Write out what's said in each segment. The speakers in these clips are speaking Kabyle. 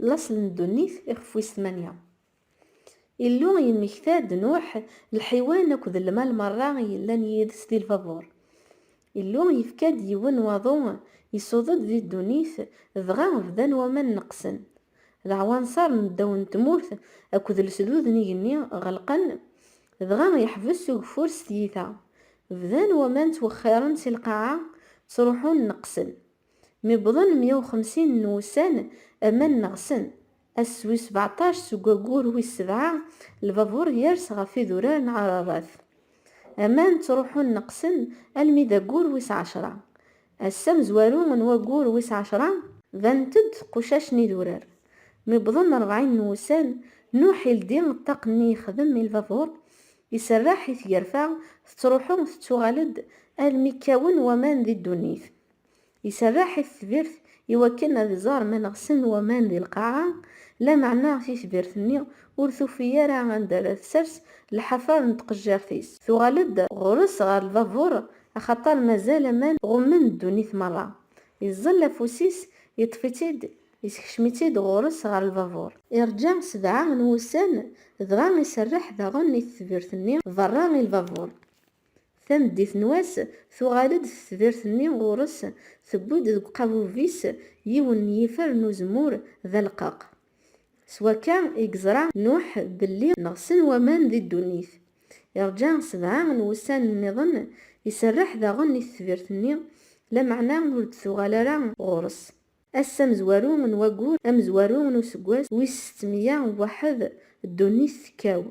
Laṣel n ddunit, ixef wis tmanya. Illu yemmekta-d Nuḥ, lḥiwan akked lmal merra i yellan yid-s di lbabuṛ. Illu yefka-d yiwen n waḍu, isuḍ-d di ddunit, dɣa bdan waman neqqsen. Leɛwanṣer n ddaw n tmurt akked lesdud n igenni ɣelqen, dɣa yeḥbes ugeffur s tyita. Bdan waman ttwexxiṛen si lqaɛa, ttṛuḥun neqqsen. Mi wwḍen mya u xemsin n wussan, aman neɣsen. Ass wis sebeɛṭac seg waggur wis sebɛa, lbabuṛ yers ɣef idurar n Ɛararat. Aman ttṛuḥun neqsen almi d aggur wis ɛecṛa. Ass amezwaru n waggur wis ɛecṛa, banent-d qucac n idurar. Mi wwḍen rebɛin n wussan, Nuḥ ildi ṭṭaq-nni yexdem i lbabuṛ, iserreḥ i tgerfa, tettṛuḥu teţţuɣal-d almi kkawen waman di ddunit. Iserreḥ i tetbirt iwakken ad iẓer ma neɣsen waman di lqaɛa, lameɛna titbirt-nni ur tufi ara anda ara tsers lḥafaḍ n tqejjirt-is. Tuɣal-d ɣur-s ɣer lbabuṛ, axaṭer mazal aman ɣummen ddunit meṛṛa. Iẓẓel afus-is, iṭṭef-itt-id, isekcem-itt-id ɣur-s ɣer lbabuṛ. Iṛǧa sebɛa n wussan, dɣa iserreḥ daɣen i tetbirt-nni beṛṛa i lbabuṛ. Tameddit n wass, tuɣal-d tetbirt-nni ɣur-s, tewwi-d deg uqabub-is yiwen n yifer n uzemmur d aleqqaq. S wakka i yeẓra Nuḥ belli neɣsen waman di ddunit. Irǧa sebɛa n wussan nniḍen, iserreḥ daɣen i tetbirt-nni, lameɛna ur d-tuɣal ara ɣur-s. Ass amezwaru n waggur amezwaru n useggas wis settemya u waḥed, ddunit tekkaw.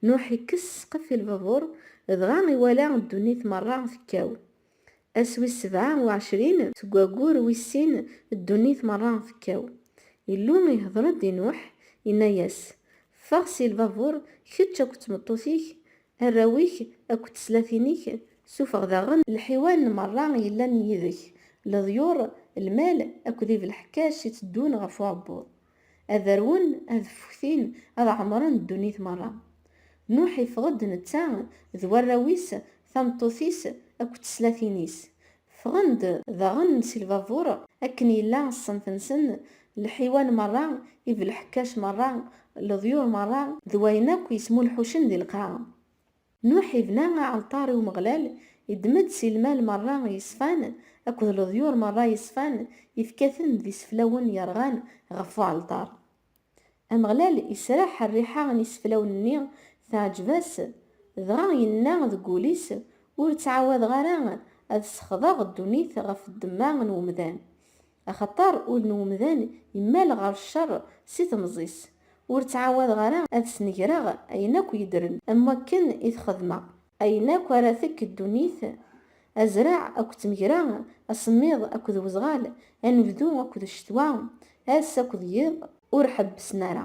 Nuḥ ikkes ssqef i lbabuṛ, dɣa iwala ddunit meṛṛa tekkaw. Ass wis sebɛa u ɛecrin seg waggur wis sin, ddunit meṛṛa tekkaw. Illu ihdeṛ-d i Nuḥ, inna-yas, Ffeɣ si lbabuṛ, kečč akked tmeṭṭut-ik, Arraw-ik akked teslatin-ik, sufeɣ daɣen lḥiwan merra yellan yid-k, leḍyur, lmal akked ibelḥekkac i teddun ɣef uɛebbuḍ. Ad rwun, ad ffuktin, ad ɛemren ddunit merra. Nuḥ iffeɣ-d netta d warraw-is, tameṭṭut-is akked teslatin-is, Ffɣen-d daɣen si lbabur akken yella ṣṣenf-nsen, lḥiwan merra, ibelḥekkac merra, leḍyur merra d wayen akk yesmulḥucen di lqaɛa. Nuḥ ibna aɛalṭar i Umeɣlal, iddem-d si lmal merra yeṣfan akked leḍyur merra yeṣfan, yefka-ten d iseflawen yerɣan ɣef uɛalṭar. Ameɣlal israḥ rriḥa n iseflawen-nni, teɛǧeb-as, dɣa yenna deg wul-is, Ur ttɛawadeɣ ara ad sexḍeɣ ddunit ɣef ddemma n wemdan. Axaṭer ul n wemdan immal ɣer cceṛ si temẓi-s. Ur ttɛawadeɣ ara ad snegreɣ ayen akk yeddren am wakken i t-xedmeɣ. Ayen akk ara tekk ddunit, Azraɛ akked tmegra, asemmiḍ akked wezɣal, anebdu akked ccetwa, ass akked yiḍ, ur ḥebbsen ara.